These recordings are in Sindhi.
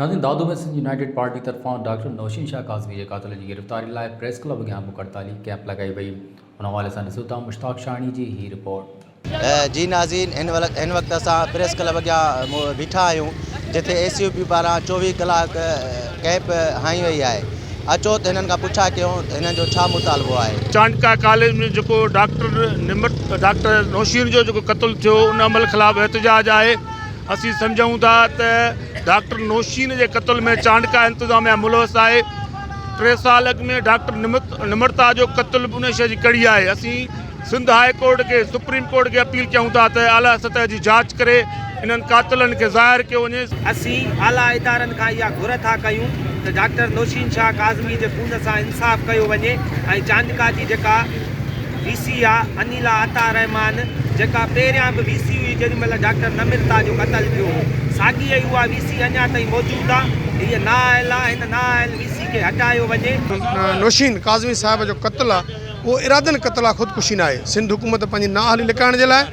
ناظرين دادو ۾ سنڌ يونائيٽيڊ پارٽي طرفان ڊاڪٽر نوشين شاهه ڪاظمي جي قاتل جي گرفتاري لاء پريس ڪلب اڳيان بک هڙتالي ڪئمپ لڳائي وئي ان حوالي سان ڏسو ٿا مشتاق شاهڻي جي هي رپورٽ. جي ناظرين هن وقت اسان پريس ڪلب اڳيان بيٺا آهيون جتي اي سي يو پي پاران چوويهه ڪلاڪ ڪئمپ هنئي وئي آهي اچو ته هنن کان پڇا ڪيون ته هنن جو ڇا مطالبو آهي. چانڊڪا ڪاليج ۾ جيڪو ڊاڪٽر نمت ڊاڪٽر نوشين جو جيڪو قتل ٿيو ان عمل خلاف احتجاج آهي اسين سمجهون ٿا ته ڊاڪٽر نوشين جي قتل ۾ چانڊڪا انتظاميا ملوث آهي ٽي سال اڳ ۾ ڊاڪٽر نمت نمرتا جو قتل به انهي شي جي ڪڙي آهي اسين سنڌ هاء ڪورٽ کي سپريم ڪورٽ کي اپيل ڪيون ٿا ته اعليٰ سطح جي جاچ ڪري انهن قاتلن کي ظاهر ڪيو وڃي. اسين اعليٰ ادارن کان اها گهر ٿا ڪيون ته ڊاڪٽر نوشين شاهه ڪاظمي جي خون سان انصاف ڪيو وڃي ۽ چانڊڪا جي جيڪا وي سي آ انيلا عطا الرحمان جيڪا پهريان به وي سي هئي جيڏي مهل ڊاڪٽر نمرتا جو قتل ٿيو هو ساڳي ئي اها وي سي اڃا تائين موجود آ هيء نااهل آ هن نااهل وي سي کي هٽايو وڃي. نوشين ڪاظمي صاحب جو قتل آ. اهو ارادن قتل آ خودڪشي ناهي سنڌ حڪومت پنهنجي نااهلي لڪائڻ جي لاء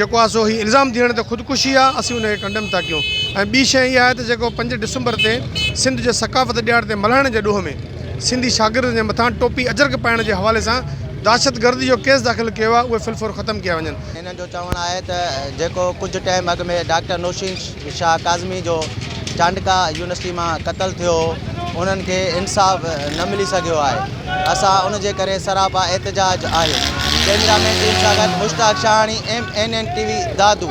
جيڪو آ سو هي الزام ڌيڻ ته خودڪشي آ اسين ان کي ڪنڊيم ٿا ڪيون ۽ ٻي شئي اها آهي ته جيڪو پنج ڊسمبر تي سنڌ جي ثقافت ڏياڙ تي ملهائڻ جي ڏوهه ۾ سنڌي شاگردن جي مٿان ٽوپي اجرڪ پائڻ جي حوالي سان دهشتگردي جو ڪيس داخل ڪيو آ اهي في الفور ختم ڪيا وڃن. هنن جو چوڻ آهي ته جيڪو ڪجهه ٽائيم اڳ ۾ ڊاڪٽر نوشين. شاهه ڪاظمي جو چانڊڪا يونيورسٽي مان قتل ٿيو هو انهن کي انصاف نه ملي سگهيو آهي اسان ان جي ڪري سراپا احتجاج آهي ڪيميرا مين ٽيم سان گڏ Mushtaq Shahani M N N T V Dadu